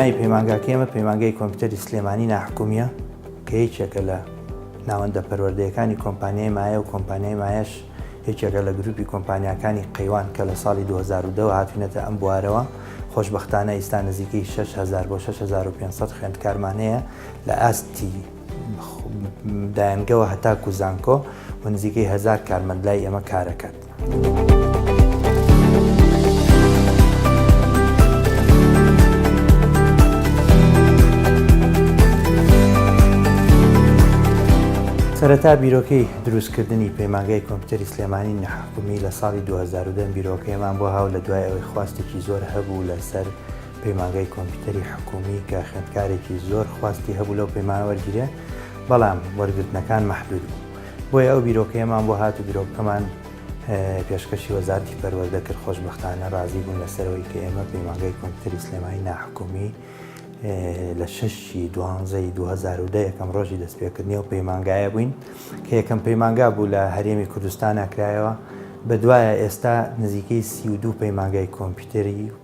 ناوی پەیمانگاکەی ئەمە پەیمانگەی کۆمپیوتەری سلێمانی ناحکومیە کە یەکێکە لە ناوەندە پەروەردەیەکانی کۆمپانیای مایە و کۆمپانیای مایش یەکێکە لە گروپی کۆمپانیاکانی قەیوان کە لە ساڵی 2010 هاتوینەتە ئەم بوارەوە خۆشببختانە ئیستا نزیکەی 6هزار بۆ 6500 خوێندکارمانەیە لە ئاستی دایەنگەوە هەتاکو زانکۆ و نزیکەی هزار کارمەند لای ئێمە کارەکەات. سەرەتا بیرۆکەی دروستکردنی پەیمانگای کۆمپیوتەری سلێمانی نەحکومی لە ساڵی 2010 بیرۆکەیەمان بۆ هاو لە دوای ئەوەی خواستێکی زۆر هەبوو لەسەر پەیمانگای کۆمپیوتەری حکومی کە خوێندکارێکی زۆر خواستی هەبوو لەو پەیمانە وەرگیرێ بەڵام وەرگرتنەکان مەحدود بوو بۆیە ئەو بیرۆکەیەمان بۆ هات و بیرۆکەمان پێشکەشی وەزارتی پەروەردە کرد خۆشببختانە ڕازی بوون لەسەرەوەی کە ئێمە پەیمانگای کۆمپیوتەری سلێمانی ناحکومی لە شەشی دوانزەی 2010 یەکەم ڕۆژی دەستپێکردنی و پەیمانگایە بووین کە یەکەم پەیمانگا بوو لە هەرێمی کوردستانە کرایەوە بە دوایە ئێستا نزیکەی سی و دوو پەیمانگای کۆمپیوتەری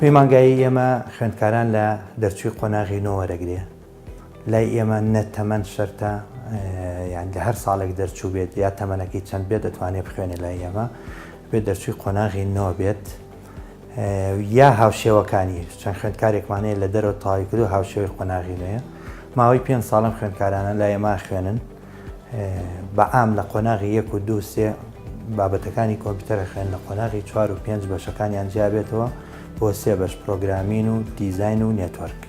پەیمانگایی ئێمە خوێندکاران لە دەرچووی قۆناغی نۆ وەرەگرێ لای ئێمە نە تەمەەن شەرتە یان لە هەر ساڵێک دەرچوو بێت یا تەمەەنەکەی چەند بێت دەتوانێت بخوێنێت لای ئێمە بێت دەرچووی قۆناغی نۆ بێت یا هاوشێوەکانی چەند خوێندکارێکمان هەیە لە دەرەوە تاوی کردو هاوشێوەی قۆناغی نوێە ماوەی پێنج ساڵم خوێندکارانە لای ئێمە خوێنن بە ئام لە قۆناغی یەک و دوو سێ بابەتەکانی کۆمپیوتەرە خوێن لە قۆناغی چوار و پێنج بەشەکانیان جیابێتەوە بۆ سێ بەش پرۆگرامین و دیزین و نێتوەرک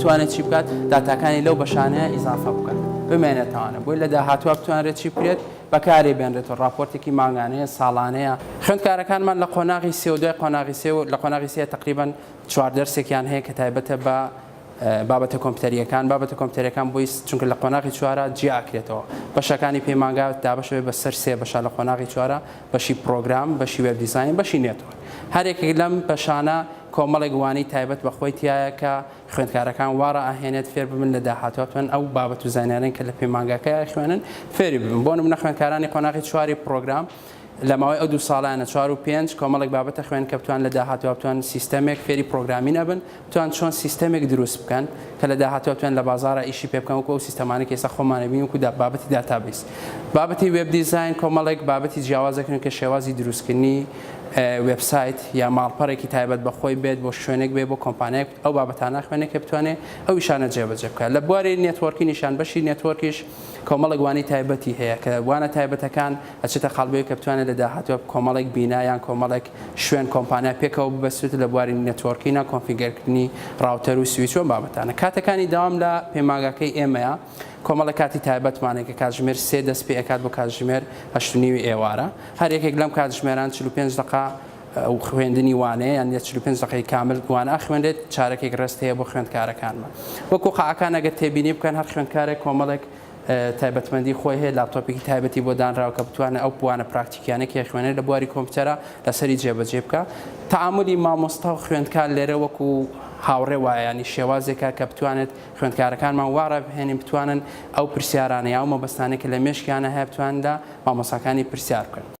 بتوانێت چی بکات داتاکانی لەو بەشانەیە ئیزافە بکات بمێنێتوانە بۆی لە داهاتوە بتوانرێت چی بکرێت بەکارێ بێنرێتەوە راپۆرتێکی ماگانەیە ساڵانەیە خوێندکارەکانمان لە قۆناغی سێودای قۆناغی سێ لە قۆناغی سێ تقریبان چوار دەرسێکیان هەیە کە تایبەتە بە بابەتە کۆمپیوتەرییەکان، بابەتە کۆمپیوتەرییەکان بۆی چونکە لە قۆناغی چوارە جیا ئەکرێتەوە، بەشەکانی پەیمانگا دابەش ئەبێت بە سەر سێ بەشە لە قۆناغی چوارە، بەشی پڕۆگرام، بەشی وێب دیزاین، بەشی نێتوەرک. هەر یەکێک لەم بەشانە کۆمەڵێک وانەی تایبەت بە خۆی تیایە کە خوێندکارەکان وا ڕائەهێنێت فێر ببن لە داهاتووە بتوانن ئەو بابەت و زانیارییانە کە لە پەیمانگاکەی ئەخوێنن فێری ببن. بۆ نموونە خوێندکارانی قۆناغی چواری پڕۆگرام لە ماوەی ئەو دوو ساڵانە چوار و پێنج کۆمەڵێک بابەتە خوێن کە بتوان لە داهاتوە بتوان سیستەمێک فێری پرۆگرامین ئەبن بتوان چۆن سیستەمێک دروست بکەن کە لە داهاتوە بتوان لە بازارە ئیشی پێ بکەن وەکو ئەو سیستەمانە کە ئێستا خۆمانە بین وەکو دا بابەتی داتابیس بابەتی وێب دیزاین کۆمەڵێک بابەتی جیاوازەکردن کە شێوازی دروستکردنی وێبسایت یا ماڵپەڕێکی تایبەت بە خۆی بێت بۆ شوێنێک بێ بۆ کۆمپانیایەک ئەو بابەتانە خوێنێک کە بتوانێت ئەو شانە جێبەجێ بکە لە بواری نێتوەرکی نیشان بەشی نێتوەرکیش کۆمەڵک وانی تایبەتی هەیە کە وانە تایبەتەکان ئەچێتە قاڵبەوەی کە بتوانێت لە داهاتوودا کۆمەڵێک بینا یان کۆمەڵێک شوێن، کۆمپانیا پێکەوە ببەستێت لە بواری نێتۆرکینگ و کۆنفیگەرکردنی ڕاوتەر و سویچ و ئەم بابەتانە. کاتەکانی داوام لە پەیمانگاکەی ئێمەیە، کۆمەڵە کاتی تایبەتمان هەیە کە کاتژمێر سێ دەست پێ ئەکات بۆ کاتژمێر هەشت و نیوی ئێوارە. هەر یەکێک لەم کاتژمێران چل و پێنج دەقە خوێندنی وانەیە یان چل و پێنج دەقەی کامل وانە ئەخوێنرێت، چارەکێک ڕێست هەیە بۆ خوێندکارەکانمان. وەکو قاعەکان ئەگەر تێبینی بکەن هەر خوێندکارێک کۆمەڵێک تایبەتمەندی خۆی هەیە، لاپتۆپێکی تایبەتی بۆ دانراوە کە بتوانێت ئەو بوانە پراکتیکیانەی کە خوێنەر لە بواری کۆمپیوتەرە لەسەری جێبەجێ بکات. تەعامولی مامۆستا و خوێندکار لێرە وەکو هاوڕێ وایە، یانی شێوازێکە کە بتوانێت خوێندکارەکانمان وا ڕابهێنین بتوانن ئەو پرسیارانە یا ئەو مەبەستانەی کە لە مێشکیانە هەیە بتوانن لە مامۆستاکانی پرسیار بکەن.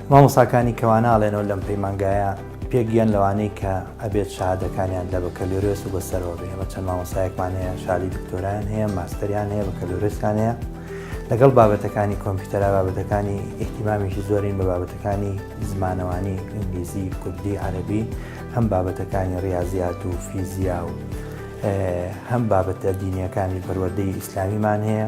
مامۆستاکانی کەوا ناڵێنەوە لەم پەیمانگایە پێک یەن لەوانەی کە ئەبێت شەهادەکانیان لە بەکەلۆرێس و بەسەرەوە بێ ئێمە چەند مامۆستایەکمان هەیە شادی دکتۆران هەیە ماستەریان هەیە بەکەلۆرێسیان هەیە لەگەڵ بابەتەکانی کۆمپیوتەرا بابەتەکانی ئیحتیمامیشی زۆرین بە بابەتەکانی زمانەوانی ئینگلیزی کوردی عەربی هەم بابەتەکانی ڕاضیات و فیزیا و هەم بابەتە دینیەکانی پەروەدەی ئیسلامیمان هەیە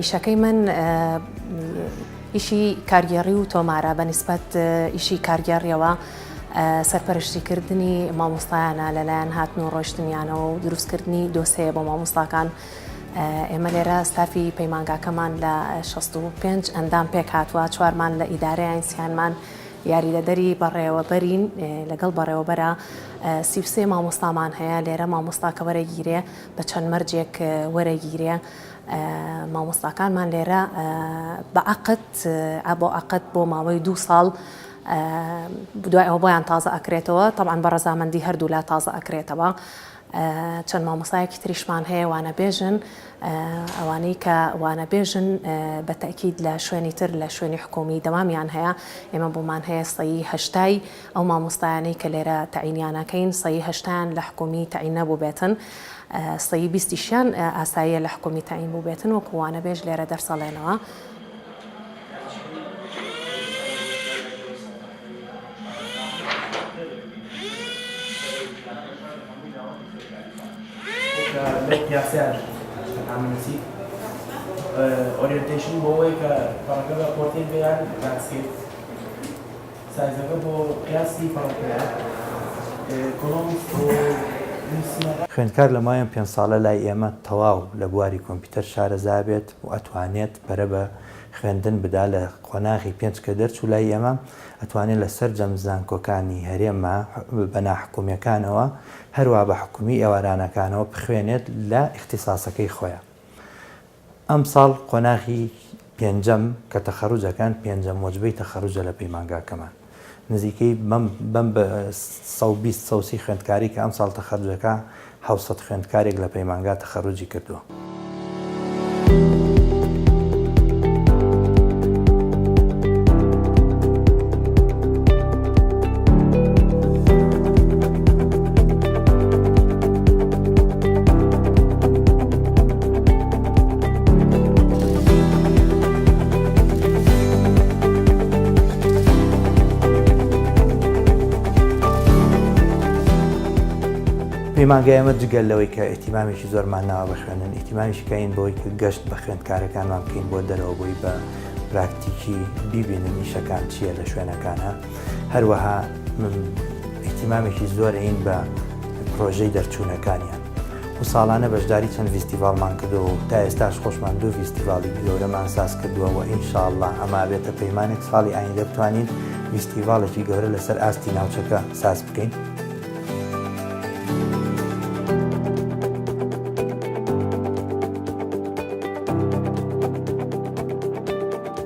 ئیشەکەی من ئیشی کارگێڕی و تۆمارە بە نسبەت ئیشی کارگێڕیەوە سەرپەرشتیکردنی مامۆستایانە لەلایەن هاتن و ڕۆشتنیانەوە و دروستکردنی دۆسەیە بۆ مامۆستاکان ئێمە لێرە ستافی پەیمانگاکەمان لە 65 ئەندام پێک هاتووە چوارمان لە ئیدارەیە ئینسیانمان یاریدەدەری بەڕێوەبەرین لەگەڵ بەڕێوەبەرە سیوسێ مامۆستامان هەیە لێرە مامۆستا کە وەرەگیرێ بە چەند مەرجێک وەرەگیرێ مامۆستاکانمان لێرە بە عەقد بۆ عەقد بۆ ماوەی دوو ساڵ دوای ئەوە بۆیان تازە ئەکرێتەوە تەعاان بە ڕەزامەندی هەردوولا تازە ئەکرێتەوە چەند مامۆسایەکی تریشمان هەیە وانە بێژن ئەوانەی کە وانە بێژن بە تەکیید لە شوێنی تر لە شوێنی حکومی دەوامیان هەیە ئێمە بۆمان هەیە سەیهشتای ئەو مامۆستایانەی کە لێرە تەعینیان ئەکەین سەیی هەشتایان لە حکومی تەعین نەبووبێتن سەیی بیستیشیان ئاساییە لە حکومی تەعین بووبێتن وەکو وانەبێژ لێرە دەرسەڵێنەوە. سایزەکە بۆ قیاسی فەڕەکەیە کۆڵۆمب بۆ نوسینەکان. خوێندکار لە مایەن پێنج ساڵە لای ئێمە تەواو لە بواری کۆمپیوتەر شارەزا بێت و ئەتوانێت پەرە بە خوێندن بدا لە قۆناغی پێنج کە دەرچوو لای ئێمە ئەتوانێت لە سەرجەم زانکۆکانی هەرێمە بە ناحکومیەکانەوە هەروا بە حکومی ئێوارانەکانەوە بخوێنێت لە ئیختیساسەکەی خۆیان ئەمساڵ قۆناغی پێنجەم کە تەخەروجەکان پێنجەم وەجبەی تەخەروجە لە پەیمانگاکەمان نزیکەی بەم بەم بە سەد و بیست سەد و سی خوێندکاری کە ئەمساڵ تەخەروج دەکا حەوت سەد خوێندکارێک لە پەیمانگا تەخەروجی کردووە. پەیمانگای ئەمە جگەل لەوەی کە ئەتیمامێکی زۆرمان ناوە بخوێنن ئیتیمانیشکەین بۆی کە گەشت بە خوێندکارەکانمان بکەین بۆ دەرەوە بووی بە پراکتیکی بیبینن نیشەکان چییە لە شوێنەکانە هەروەها ئیتیمامێکی زۆرین بە پرۆژەی دەرچوونەکانیان و ساڵانە بەشداری چەند ڤیستیڤاڵمان کردووە و تا ئێستاش خۆشمان دوو ڤیستیڤاڵی گەورەمان ساز کردووە و ان شاء اللە ئەمە ئەبێتە پەیمانێک ساڵی ئایندە بتوانین ڤیستیڤاڵێکی گەورە لەسەر ئاستی ناوچەکە ساز بکەین.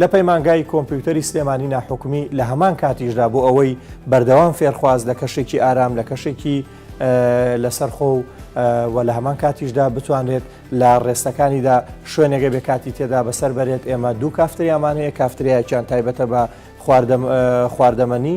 لە پەیمانگای کۆمپیوتەری سلێمانی ناحکومی لە هەمان کاتیشدا بۆ ئەوەی بەردەوام فێرخواز لە کەشێکی ئارام لە کەشێکی لەسەر خۆ و لە هەمان کاتیشدا بتوانێت لە ڕێستەکانیدا شوێنێگە بێ کاتی تێدا بەسەر بەرێت ئێمە دوو کافتریامان هەیە کافتریایان تایبەتە بە خواردەمەنی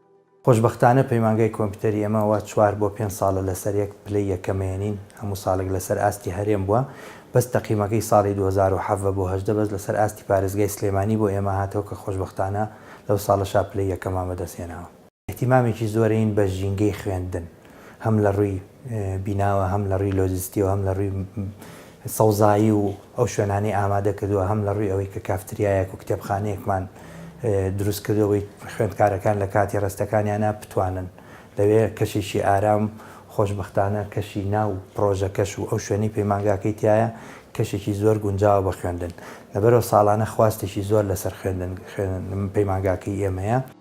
خۆشبەختانە پەیمانگای کۆمپیوتەری ئێمە وا چوار بۆ پێنج ساڵە لەسەر یەک پلەی یەکەمێنین هەموو ساڵێک لەسەر ئاستی هەرێم بووە بەس تەقیمەکەی ساڵی دوو هەزار و حەڤە بۆ هەژدە بەس لەسەر ئاستی پارێزگای سلێمانی بۆ ئێمە هاتەوە کە خۆشبەختانە لەو ساڵەشا پلەی یەکەمان بەدەست هێناوە. ئیهتیمامێکی زۆرەین بە ژینگەی خوێندن. هەم لە ڕووی بیناوە هەم لە ڕووی لۆجستی و هەم لە ڕووی سەوزایی و ئەو شوێنانەی ئامادە کردووە هەم لە ڕووی ئەوەی کە کافتریایەک و کتێبخانەیەکمان دروست کردو بۆی خوێندکارەکان لە کاتی ڕستەکانیانە بتوانن لەوێ کەشێکی ئارام خۆشبختانە کەشی ناو پرۆژەکەش و ئەو شوێنی پەیمانگاکەی تایە کەشێکی زۆر گونجاوە بە خوێندن لەبەرەوە ساڵانە خواستێکی زۆر لەسەر خوێندن پەیمانگاکەی ئێمەیە.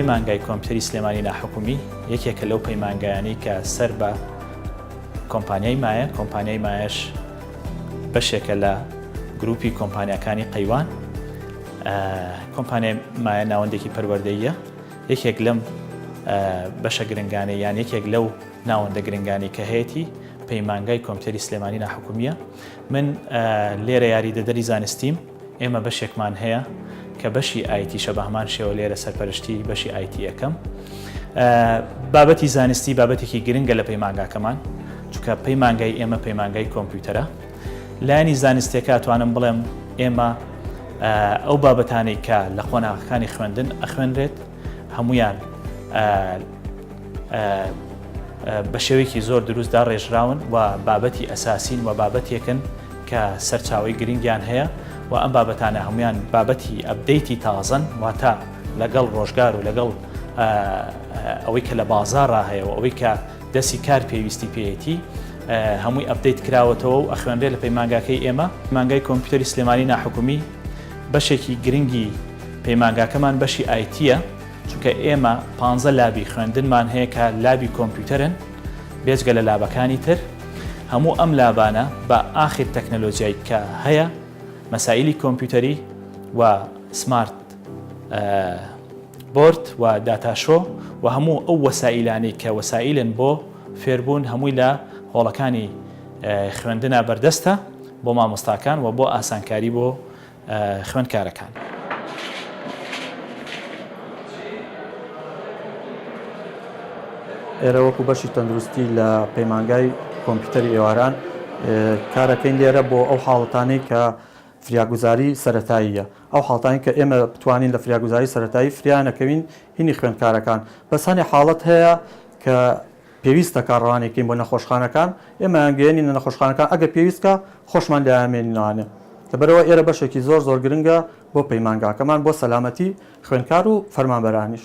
پەیمانگای کۆمپیوتەری سلێمانی ناحکومی یەکێکە لەو پەیمانگایانی کە سەر بە کۆمپانیای مایە کۆمپانیای مایش بەشێکە لە گروپی کۆمپانیەکانی قەیوان کۆمپانیای مایە ناوەندێکی پەروەردەیە یەکێک لەم بەشە گرنگانەی یان یەکێک لەو ناوەندە گرنگانی کە هەیەی پەیمانگای کۆمپیوتەری سلێمانی ناحکومیە من لێرە یاری دەدەری زانستیم ئێمە بەشێکمان هەیە کە بەشی ئایتی شە بە هەمان شێوە لێرە سەرپەرشتی بەشی ئایتی یەکەم بابەتی زانستی بابەتێکی گرنگە لە پەیمانگاکەمان چکە پەیمانگای ئێمە پەیمانگای کۆمپیوتەرە لایەنی زانستیەکە توانم بڵێم ئێمە ئەو بابەتانەی کە لە قۆناغەکانی خوێندن ئەخوێنرێت هەمویان بە شێوەیەکی زۆر دروستدا ڕێژراون و بابەتی ئەساسین و بابەتێکن کە سەرچاوی گرنگیان هەیە و ئەم بابەتانە هەمویان بابەتی ئەبدەیتی تازن واتە لەگەڵ ڕۆژگار و لەگەڵ ئەوەی کە لە بازارڕا هەیە و ئەوەی کە دەستی کار پێویستی پێیەتی هەمووی ئەپدەیت کراوەتەوە و ئەخوێنرێ لە پەیمانگاکەی ئێمە مانگای کۆمپیوتەری سلێمانی ناحکومی بەشێکی گرنگی پەیمانگاکەمان بەشی ئایتە چونکە ئێمە پ لابی خوێندنمان هەیە کە لابی کۆمپیوتەرن بێجگە لە لابەکانی تر هەموو ئەم لابانە بە ئاخر تەکنەلۆجیای کە هەیە مەسائلی کۆمپیوتەری و سمارت بۆرد و داتاشۆ و هەموو ئەو وەسائیلانەی کە وەسائیلن بۆ فێربوون هەمووی لە هۆڵەکانی خوێندنا بەردەستە بۆ مامۆستاکان و بۆ ئاسانکاری بۆ خوێندکارەکان. ئێرە وەکو بەشی تەندروستی لە پەیمانگای کۆمپیوتەری ئێواران کارەکەین لێرە بۆ ئەو حاڵەتانەی کە فریاگوزاری سەرەتاییە ئەو حاڵتانەی کە ئێمە بتوانین لە فریاگوزاری سەرەتایی فریا نەکەوین هینی خوێندکارەکان بەس هەنێ حاڵەت هەیە کە پێویستە کە ڕەوانەیکەین بۆ نەخۆشخانەکان ئێمەیان گەیەنینە نەخۆشخانەکان ئەگەر پێویست کا خۆشمان لێیان مێنینەوانێ لەبەرئەوە ئێرە بەشێکی زۆر زۆر گرنگە بۆ پەیمانگاکەمان بۆ سەلامەتی خوێندکار و فەرمانبەرانیش.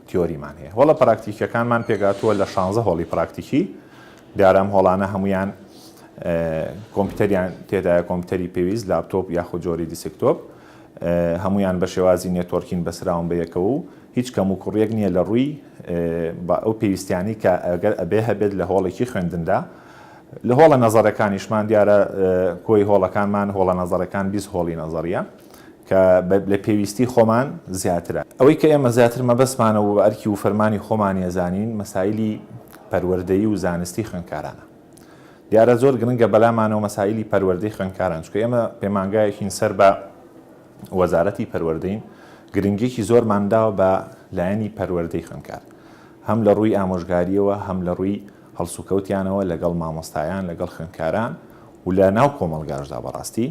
تیۆریمان هەیە هۆڵە پراکتیکیەکانمان پێکهاتووە لە شانزە هۆڵی پراکتیکی دیارە ئەم هۆڵانە هەمویان کۆمپیوتەریان تێدایە کۆمپیوتەری پێویست لاپتۆپ یاخود جۆری دیسکتۆپ هەمویان بە شێوازی نێتۆرکین بەسراون بە یەکەوە و هیچ کەم و کوڕیەک نییە لە ڕووی بە ئەو پێویستیانی کە ئەگەر ئەبێ هەبێت لە هۆڵێکی خوێندندا لە هۆڵە نەزەرەکانیشمان دیارە کۆی هۆڵەکانمان هۆڵە نەزەرەکان بیست هۆڵی نەزەریە کە لە پێویستی خۆمان زیاترە. ئەوەی کە ئێمە زیاتر مەبەستمانە و بە ئەرکی وفەرمانی خۆمانی ئەزانین مەسایلی پەروەردەیی و زانستی خوێندکارانە. دیارە زۆر گرنگە بەلامانەوە مەسایلی پەروەردەی خوێندکاران چونکە ئێمە پەیمانگایەکین سەر بە وەزارەتی پەروەردەین گرنگیەکی زۆرمان داوە بە لایەنی پەروەردەی خوێندکار هەم لە ڕووی ئامۆژگاریەوە هەم لە ڕووی هەڵسوکەوتیانەوە لەگەڵ مامۆستایان لەگەڵ خوێندکاران و لە ناو کۆمەڵگاشدا بەڕاستی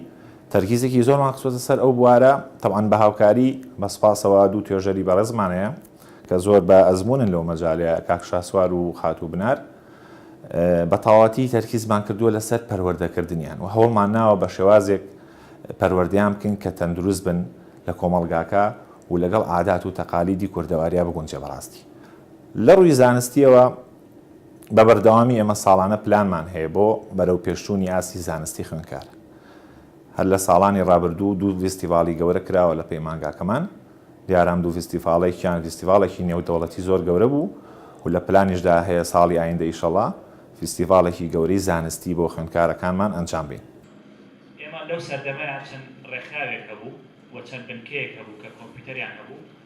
تەرکیزێکی زۆرمان خستۆتە سەر ئەو بوارە تەبعەن بە هاوکاری بە سوپاسەوە دوو توێژەری بەڕێزمان هەیە کە زۆر بە ئەزموونن لەو مەجالە کاک شاسوار و خاتوو بنار بە تەواوەتی تەرکیزمان کردووە لەسەر پەروەردەکردنیان و هەوڵمان ناوە بە شێوازێک پەروەردەیان بکەین کە تەندروست بن لە کۆمەڵگاکە و لەگەڵ عادات و تەقالیدی کوردەواریا بگونجێ بەڕاستی لە ڕووی زانستیەوە بە بەردەوامی ئێمە ساڵانە پلانمان هەیە بۆ بەرەوپێشچوونی ئاستی زانستی خوێندکار. هەر لە ساڵانی ڕابردوو دوو ڤیستیڤاڵی گەورە کراوە لە پەیمانگاکەمان، دیارە ئەم دوو ڤیستیڤاڵێکیان ڤیستیڤاڵێکی نێودەوڵەتی زۆر گەورە بوو و لە پلانیشدا هەیە ساڵی ئایندە ئیشەڵا ڤیستیڤاڵێکی گەورەی زانستی بۆ خوێندکارەکانمان ئەنجام بەین. ئێمە لەو سەردەمەیا چەند ڕێکخراوێک هەبوو و چەند بنکەیەک هەبوو کە کۆمپیوتەریان هەبوو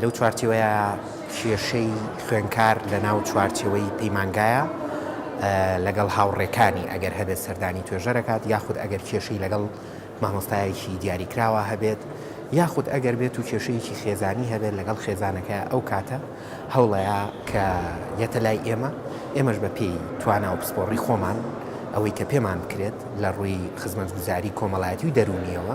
لەو چوارچێوەیە کێشەی خوێنکار لەناو چوارچێوەی پەیمانگایە لەگەڵ هاوڕێکانی ئەگەر هەبێت سەردانی توێژەرەکات یاخود ئەگەر کێشەی لەگەڵ مامۆستایەکی دیاریکراوە هەبێت یاخود ئەگەر بێت و کێشەیەکی خێزانی هەبێت لەگەڵ خێزانەکە ئەو کاتە هەوڵەیە کە یەتە لای ئێمە ئێمەش بە پێی توانا و پسپۆڕی خۆمان ئەوەی کە پێمان بکرێت لە ڕووی خزمەتگوزاری کۆمەڵایەتی و دەروونیەوە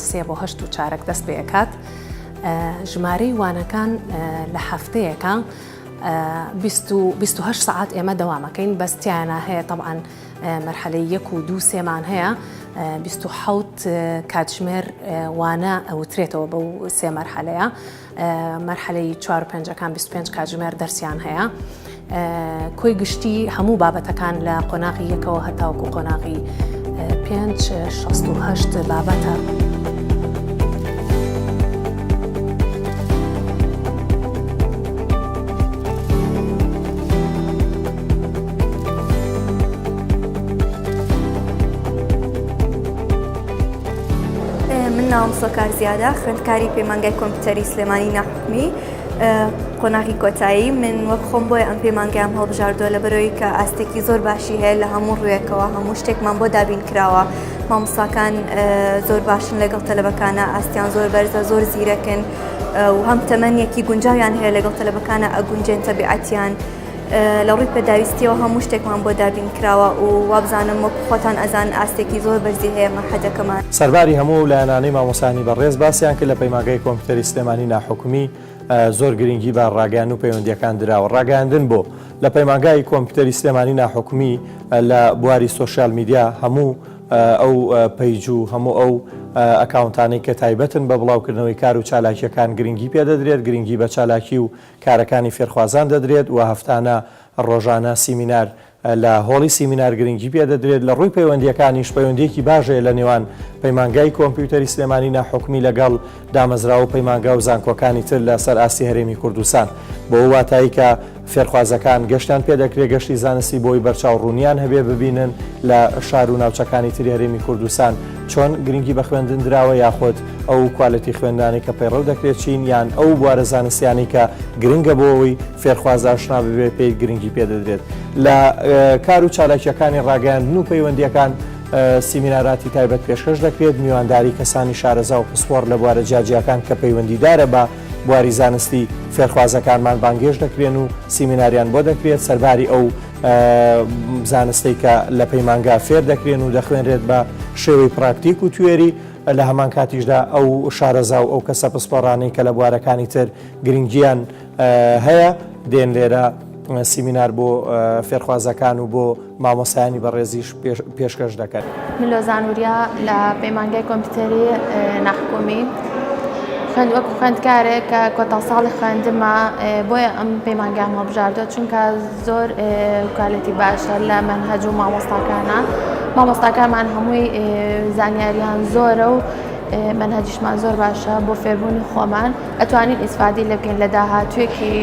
سێ بۆ هەشت و چارەک دەست پێ ئەکات ژمارەی وانەکان لە هەفتەیەەکە 28 سعات ئێمە دەوامەکەین بەستیانە هەیە طبعاان مەرحەلەی یەک و دوو سێمان هەیە 26 کاتژمێر وانە ئەوترێتەوە بەو سێ مەرحەلەیە مەرحەلەی چوار و پێنجەکان بیست و پێنج کاتژمێر دەرسیان هەیە کۆی گشتی هەموو بابەتەکان لە قۆناغی یەکەوە هەتاوکو قۆناغی پێنج شەست و هەشت بابەتە. من ناوم سۆکار زیادە خوێندکاری پەیمانگای کۆمپیوتەری سلێمانی ناحکمی قۆناغی کۆتایی من وەک خۆم بۆیە ئەم پەیمانگەیان هەڵبژاردووە لە بەرەوەی کە ئاستێکی زۆر باشی هەیە لە هەموو ڕوویەکەوە هەموو شتێکمان بۆ دابین کراوە مامساکان زۆر باشن لەگەڵ تەلبەکانە ئاستیان زۆر بەرزە زۆر زیرەکن و هەم تەمەنیەکی گونجاویان هەیە لەگەڵ تەلبەکانە ئەگونجێن تەبیعەتیان لە ڕووی پێداویستیەوە هەموو شتێکمان بۆ دابین کراوە و وابزانم وەک خۆتان ئەزان ئاستێکی زۆر بەرزی هەیە مەحەدەکەمان. سەرباری هەموو ئەو لایەنانەی مامۆستایانی بەڕێز باسیان کرد لە پەیمانگای کۆمپیوتەری سلێمانی ناحکومی زۆر گرنگی بە ڕاگەیاندن و پەیوەندیەکان دراوە ڕاگەیاندن بۆ لە پەیمانگای کۆمپیوتەری سلێمانی ناحکومی لە بواری سۆشیال میدیا هەموو ئەو پەیج و هەموو ئەو ئەکاونتانەی کە تایبەتن بە بڵاوکردنەوەی کار و چالاکیەکان گرنگی پێدەدرێت گرنگی بە چالاکی و کارەکانی فێرخوازان دەدرێت و هەفتانە، ڕۆژانە سیمینار لە هۆڵی سیمینار گرنگی پێ دەدرێت، لە ڕووی پەیوەندییەکانیش پەیوەندییەکی باش هەیە لە نێوان پەیمانگای کۆمپیوتەری سلێمانی ناحکومی لەگەڵ دامەزراوە و پەیمانگا و زانکۆکانی تر لە سەر ئاستی هەرێمی کوردستان بەوە واتایی کە فێرخوازەکان گەشتیان پێ دەکرێت گەشتی زانستی بۆی بەرچاو ڕوونیان هەبێ ببینن لە شار و ناوچەکانی تری هەرێمی کوردستان چۆن گرنگی بە خوێندن دراوە یاخود ئەو کوالێتی خوێندانەی کە پەیڕەو دەکرێت چین یان ئەو بوارە زانستیانەی کە گرنگە بۆەوەی فێرخواز ئاشنا ببێت پێی گرنگی پێدەدرێت لە کار و چالاکیەکانی ڕاگەیاندن و پەیوەندیەکان سیمیناراتی تایبەت پێشکەش دەکرێت میوانداری کەسانی شارەزا و پسپۆر لە بوارە جیاجیاکان کە پەیوەندیدارە بە بواری زانستی فێرخوازەکانمان بانگێش دەکرێن و سیمیناریان بۆ دەکرێت سەرباری ئەو زانستەی کە لە پەیمانگا فێر دەکرێن و دەخوێنرێت بە شێوەی پراکتیک و توێری لە هەمان کاتیشدا ئەو شارەزا و ئەو کەسە پسپۆڕانەی کە لە بوارەکانی تر گرنگیان هەیە دێن لێرە سیمینار بۆ فێرخوازەکان و بۆ مامۆسایانی بەڕێزیش پێشکەش دەکەن. ملۆزان وریا لە پەیمانگای کۆمپیوتەری ناحکومی خوێند وەک خوێندکارێک کە کۆتا ساڵی خوێندمە بۆیە ئەم پەیمانگام هەڵبژاردە چونکە زۆر کوالەتی باشە لە مەنهەج و مامۆستاکانە مامۆستاکانمان هەمووی زانیاریان زۆرە و مەنهجیشمان زۆر باشە بۆ فێربوونی خۆمان ئەتوانین ئیسفادەی لێ بکەین لە داهاتوویەکی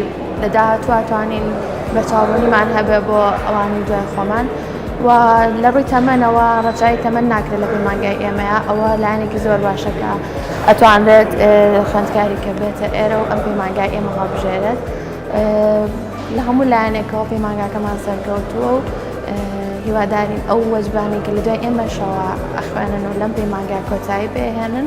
لە داهاتوو ئەتوانین بەرچاوڕوونیمان هەبێ بۆ ئەوانی دوای خۆمان و لە ڕووی تەمەنەوە ڕەچای تەمەەن ناکرێت لە پەیمانگای ئێمەیە ئەوە لایەنێکی زۆر باشەکە ئەتوانرێت خوێندکاری کە بێتە ئێرە و ئەم پەیمانگای ئێمە هەڵبژێرێت لە هەموو لایەنێکەوە پەیمانگاکەمان سەرکەوتووە و هیوادارین ئەو وەجبانێکە لە دوای ئێمەشەوە ئەخوێنن و لەم پەیمانگای کۆتایی بهێنن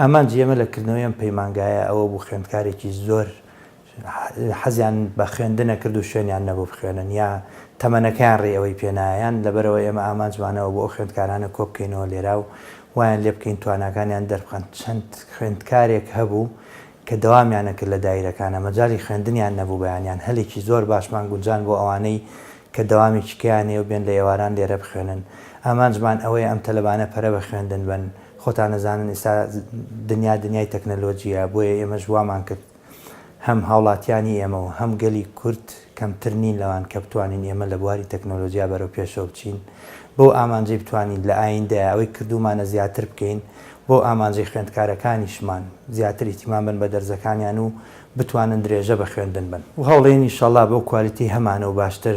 ئامانجی ئێمە لە کردنەوەی ئەم پەیمانگایە ئەوە بوو خوێندکارێکی زۆر حەزیان بە خوێندنە کرد و شوێنیان نەبوو بخوێنن یا تەمەنەکەیان ڕێی ئەوەی پێ نایە یان لەبەرئەوە ئێمە ئامانجمان ئەوە بوو ئەو خوێندکارانە کۆ بکەینەوە لێرا و وایان لێ بکەین تواناکانیان دەربخەن چەند خوێندکارێک هەبوو کە دەوامیان نەکرد لە دایرەکانە مەجالی خوێندنیان نەبوو بەیانیان هەلێکی زۆر باشمان گونجاند بۆ ئەوانەی کە دەوامی چکەیان هەیە و بێن لە ئێواران لێرە بخوێنن ئامانجمان ئەوەیە ئەم تەلەبانە پەرە بە خوێندن بەن خۆتان ئەزانن ئێستا دنیا دنیای تەکنەلۆجییە، بۆیە ئێمەش وامان کرد هەم هاوڵاتیانی ئێمە و هەم گەلی کورد کەمتر نین لەوان کە بتوانین ئێمە لە بواری تەکنەلۆجیا بەرەو پێشەوە بچین بەو ئامانجەی بتوانین لە ئایندە ئەوەی کردوومانە زیاتر بکەین بۆ ئامانجەی خوێندکارەکانیشمان زیاتر ئیتیمان بن بە دەرزەکانیان و بتوانن درێژە بە خوێندن بن و هەوڵێین ئیشەڵا بەو کوالیتیی هەمانە و باشتر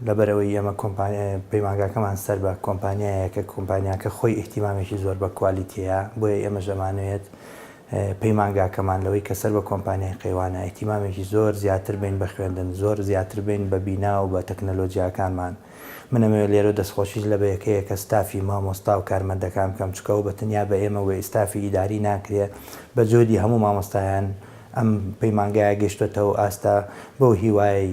لەبەرئەوەی ئێمە کۆمپانیا پەیمانگاکەمان سەر بە کۆمپانیایە کە کۆمپانیاکە خۆی ئیهتیمامێکی زۆر بە کوالیتی هەیە بۆیە ئێمەش ئەمانەوێت پەیمانگاکەمان لەوەی کە سەر بە کۆمپانیای قەیوانە ئیهتیمامێکی زۆر زیاتر بین بە خوێندن زۆر زیاتر بین بە بینا و بە تەکنەلۆجیاکانمان من ئەمەوێت لێرە دەستخۆشیش لە بەیەکەیەکە ستافی مامۆستا و کارمەندەکان بکەم چونکە ئەوە بە تەنیا بە ئێمە وە ئیستافی ئیداری ناکرێ بە جۆدی هەموو مامۆستایان ئەم پەیمانگایە گەشتۆتەو ئاستە بەو هیوایەی